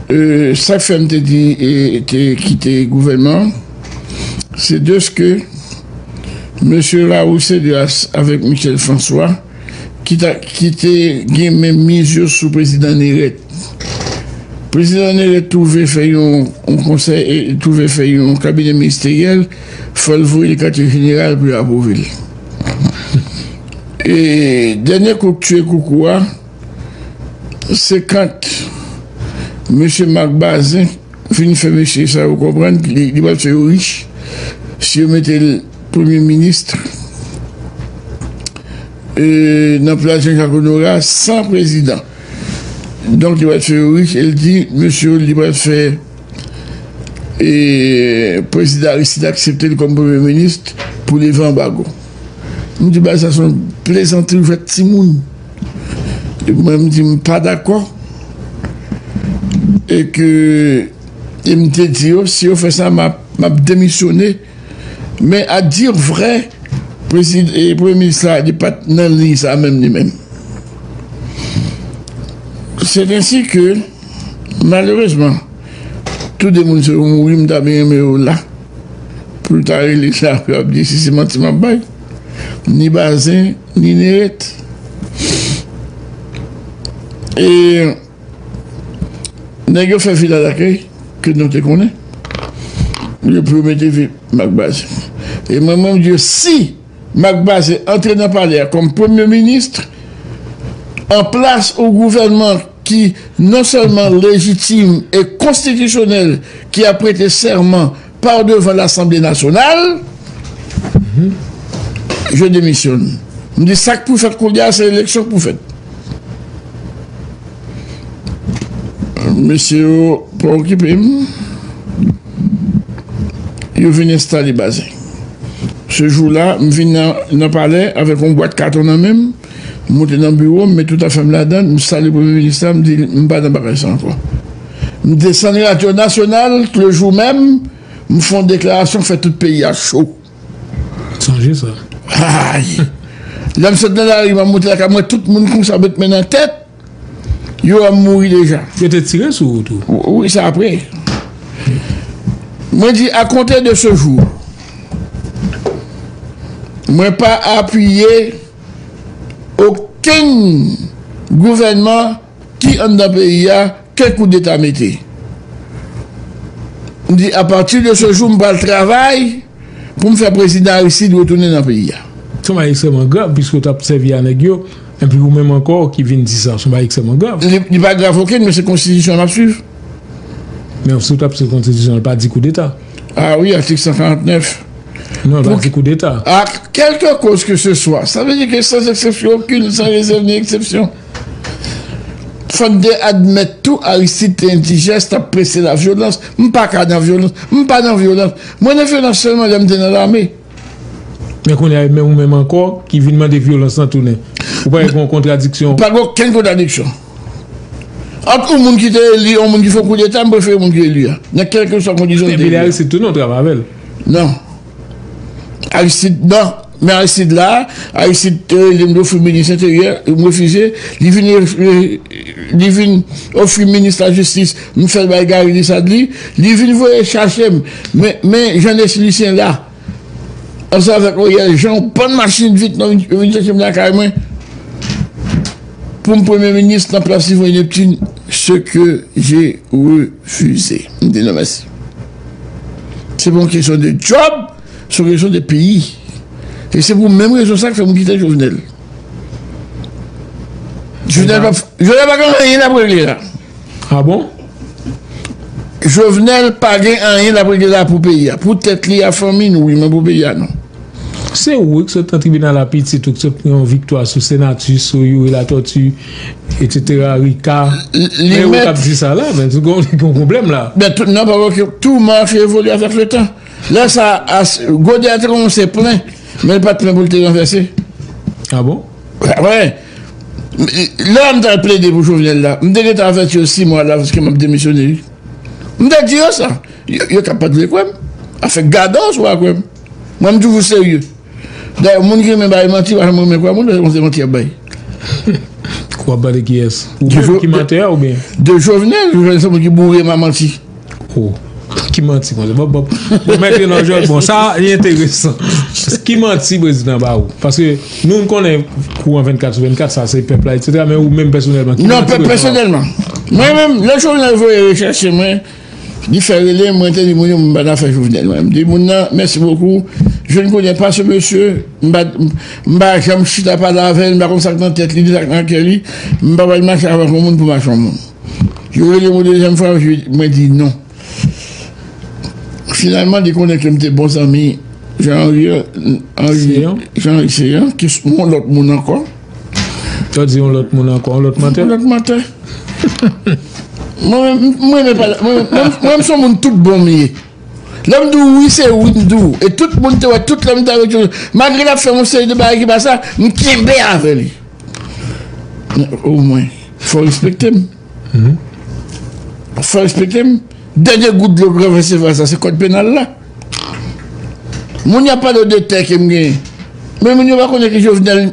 Sak fè m te di te kite gouvènman an, se dèske mesye Raoul Cédras avèk Michel François ki te gen menmiz yo sou prezidan Nérette. Prezidan Nérette twouve fè yon konsèy, twouve fè yon kabinè ministeryèl, fò l voye l katye jeneral pou yo apwouve l. E dènye kout tiye koukou a. Se kant mesye Marc Bazin fin fè mesye sa yo konprann li pral fè yo rich si yo mete l premye minis nan plas Jean Jacques Honorat san prezidan. Donk li pral fè yo rich e l di mesye yo li pral fè prezidan Aristide aksepte l kòm premye minis pou leve anbago. M di bagay sa se yon plezantri ou fè timoun. Mwen m di m pa dakò e ke e m te di yo si yo fè sa m ap demisyone men a dir vrè premye minis la li pat nan liy sa menm li menm. Se densi ke malerezman tou de moun sa yo mouri m ta byen renmen yo la pou yo ta rele sa pou yo ap di si se manti m ap bay ni Bazin. Ninirèt e nèg yo fè vila dakèy ke nou te konnen yo pou yo mete vi Marc Bazin e mwen menm di yo si Marc Bazin antre nan palè a kòm premye ministre an plas ou gouvènman ki non sèlman lejitime e konstitisyonèl ki ap prete sèman Par devan lasanble nasyonal, je demisyon. M di sak pou fèt koulye a se eleksyon k pou fèt. Mesye yo pa okipe m. Yo vin enstale Bazin. Se jou la m vin nan palè avèk yon bwat katon nan men m. M monte nan biwo m, met tout afè m ladan l, m salye Premye Minis la, m di l m pa nan bagay sa ankò. M desann radyo nasyonal lejou menm, m fon deklarasyon k fè tout peyi a cho. Sonje sa. Hay! Lè m sot nan lari m ap monte lakay m wè tout moun konsa met men nan tèt. Yo wèm mouri deja. Yo te tire sou ou tou? Wi, se apre. Mwen di a konte de se jou, mwen pa apiye okenn gouvènman ki anndan peyi a. Ke koudeta mete. M di a pati de se jou m pral travay pou m fè prezidan Aristide retounen nan peyi a. Se yon bagay ekstrèman grav piske ou t ap sèvi a nèg yo epi ou menm ankò ki vin di sa. Se yon bagay ekstrèman grav. Li pa grav okenn men se konstitisyon an m ap swiv. Men si ou t ap swiv konstitisyon an li pa di koudeta. A wi atik 149. Non li pa di koudeta. A kèlke koz ke se swa. Sa vle di ke san eksepsyon okenn, san rezèv ni eksepsyon. Fòk gen admèt tou Aristide te endijès, t ap prese nan vyolans. M pa ka nan vyolans. M pa nan vyolans. Mwen nan vyolans sèlman lè m te nan lame. Men kounye a e menm ou menm ankò ki vin mande vyolans lan tounen. Ou pa wè gen yon kontradiksyon? Pa gen okenn kontradiksyon. Ant yon moun ki te eli e yon moun ki fè yon koudeta, m prefere moun ki eli a. Nan kèlkeswa kondisyon li te eli a. Epi li Aristide tou non w travay avè l? Non. Aristide non. Men Aristide la, Aristide te rele m ofri minis enteryè, m refize, li vin li vin ofri minis lajistis, m fè l bay Garry Desadly, li vin voye chache m men Jeannesi Lucien la ansanm avèk Oriel Jean yon bann machin vit yo vin chache m lakay mwen pou m premye minis nan plas Yvon Neptune, se ke je refize. M di non mèsi. Se pa yon kesyon de djòb. Sou rezon de peyi. E se pou menm rezon sa k fè moun piten Jovenel. Jovenel pa Jovenel pa gen anyen lap regle la. A bon? Jovenel pa gen anyen lap regle la pou peyi a. Pou tèt li a fanmi n wi men pou peyi a non. Se ou wi k sot nan tribinal a pitit ou k sot pran yon viktwa sou Senatus, sou Youri Latortue etc. Rika. Li mèt. Gon pwoblèm la. Nan pa wè ke tou mache evole avèk letan. Lè sa a, gode a te kòmanse plen, men li pa t plen pou l te ranvèse. A bon? Wè! Lè a m t al plede pou Jovenel la, m te gentan avèti yo si mwa alavans ke m ap demisyone wi. M te di yo sa. Yo ka pa t vle kwè m. Afè gadò si w pa kwè m. Mwen m toujou serye. Dayè, moun ki renmen bay manti pa janm renmen kwè moun lè se manti y ap bay. Ou ap pale de kiyès? Ou menm ki mantè a oubyen? De Jovenel. Jovenel se moun ki boure m a manti. Oh, ki manti konsa? Bon, bon, bon, mèk yon anjòl, bon, sa yon enteresan. Ki manti prezidan ba ou? Paske nou n konnen kou an 24 sou 24, sa se pèp la, et cetera, men ou menm pèsonèlman, ki manti prezidan ba ou? Non, pèsonèlman, mwen menm, lè Jovenel voye rechèche mwen, li fè rele m, mwen te di moun yo m pa nan fè Jovenel mwen. M di moun nan, mèsi bokou, je ne connais pas ce monsieur, m pa, m pa janm chita pale avè l, m pa konn sa k nan tèt li, ni sa k nan kè li, m pa pral mache avèk yon moun pou m mache yon moun. Yo rele m yon dezyèm fwa, mwen di non. Finalman, li konnen ke m te bon zanmi Jean-Henry Céant, ki se yon lòt moun ankò. Sa di yon lòt moun ankò, yon lòt mantè? Yon lòt mantè. Mwen menm, mwen menm, mwen menm se yon moun tout bon m ye. Lèm di w wi se wi m di w e tout moun te wè tout lèm te avèk Joseph malgre lap fè yon seri de bagay ki pa sa m kenbe avè li men o mwen fò respekte m fò respekte m dènye gout dlo gran festival sa se kòd penal la moun y ap pale w de tè ke m genyen men moun yo pa konnen ke Jovenel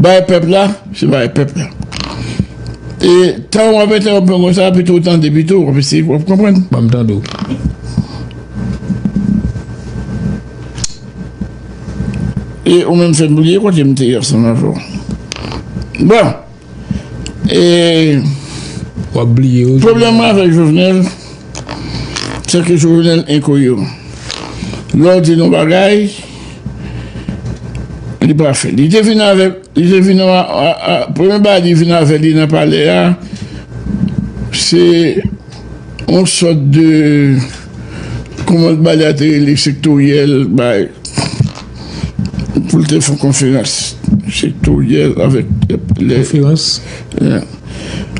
Bay pèp la, se bay pèp la. E tan wap entèwonp mwen konsa pito ou tande pito, wap eseye wap konprann. Banm tande w. E ou menm fèm bliye kote m te ye ansanm avè w. Bon e. Wap bliye ou. Pwoblèm mwen avèk Jovenel se ke Jovenel enkoyeran. Lè w di l yon bagay. Li pa fè. Li te vin avèk, li te vin avèk, premye bagay li vin avèk li nan palè a, se yon sòt de, kouman l balè a te rele, sektoryèl, bay, pou l te fè konferans. Sektoryèl avèk lè. Konferans.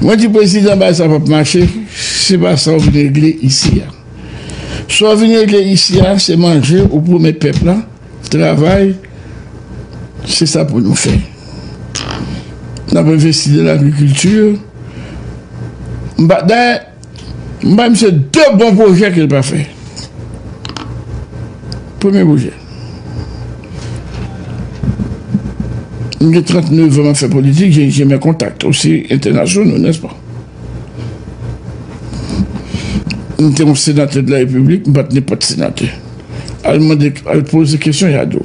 Mwen di prezidan bagay sa pa p mache, se pa sa w vin regle isi a. Sa w vin regle isi a se manje ou pwomèt pèp la, travay, se sa pou nou fè. N ap envesti nan lagrikilti. Dayè, m bay misye de bon pwojè ke l pa fè. Premye pwojè. M gen 39 an m ap fè politik, jen mè kontak osi entènasyonal, nèspa? M te yon senatè de la repiblik, m pat nenpòt senatè. Al mande, al poze kesyon ya di w.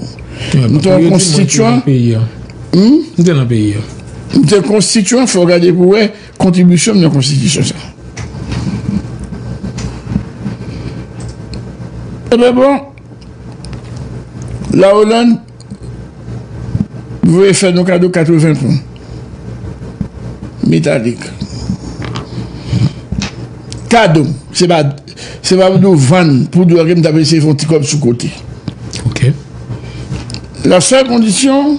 M te yon konstityan. M te nan peyi an. M te konstityan, fò w gade pou w wè kontribisyon m nan konstitisyon sa. Ebyen bon, la Hollande. M voye fè nou kado 80 pon metalik. Kado m. Se pa pou di w vann pou di w ke m ta eseye fè yon ti kòb sou kote. La sèl kondisyon,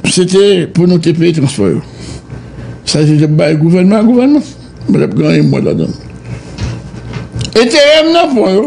se te pou nou te peye transpò yo. Sa se te pou bay gouvènman, gouvènman. Mwen ap gen yon mwa ladan. Enterè m nan pon yo.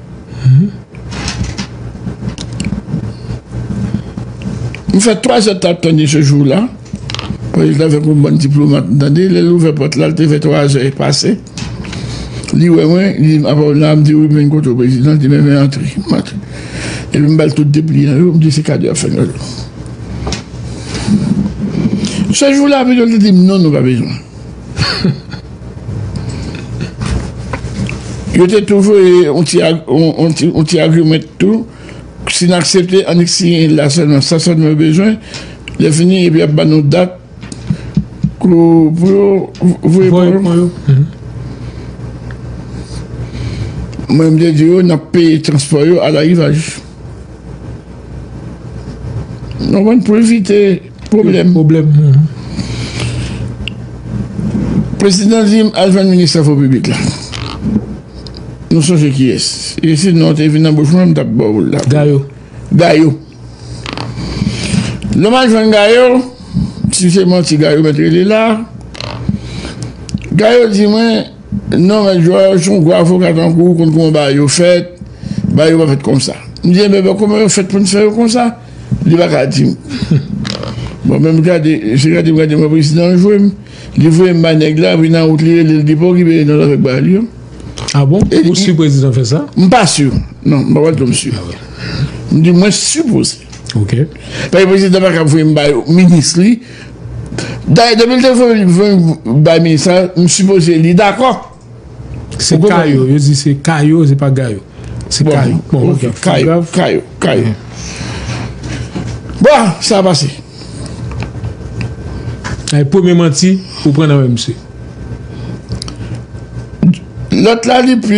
Li fè 3 zè tap tann li se jou la, polis la vè konn bann diplomat m tande, lè l ouvè pòt la l te vè 3 zè pase, li wè mwen, li di m apa w la, m di wi men kote w prezidan, li di men vin antre, m antre epi m bal tout depliyan yo, m di se kado y ap fè nou yo. Se jou la pito l te di m non nou pa bezwen. Yo te tou voye yon ti agreement tou, si n aksepte annik siyen l la sèlman, sa sèlman yo bezwen, lè fini epi y ap ban nou dat pou yo voye kò yo. Mwen m te di yo n ap peye transpò yo a larivaj. Mwen pou evite pwoblèm. Pwoblèm. Prezidan di m al jwenn minis Travo Piblik la. Nou sonje ki yès. E si non te vin nan bouch mwen m tap ba w l la. Gayo. Gayo. Lè m al jwenn Gayo, si se manti Gayo mèt rele la. Gayo di mwen. Non mèt Joel son gwo avoka tankou ou konn kouman bagay yo fèt, bagay yo pa fèt konsa. M di enben kouman yo fèt poun fè yo konsa, li pa ka dim. Bon men m gade, se gade m gade m wè prezidan an jwe m, li voye m bay nèg la epi nan wout li rele l li pa okipe nan zafè kbay li yo. A bon? Ou si prezidan fè sa? M pa si, non m pa pral di w m si. M di mwen sipoze. Ok. Paske prezidan pa ka voye m bay minis li. Dayè depi l te vin bay minis la m sipoze li dakò. Se kayo, yo di se kayo se pa gayo. Se kayo. Bon ok, kayo, kayo, kayo. Bon, sa a pase. Ay premye manti ou pran nan men misye. Lòt la li plis.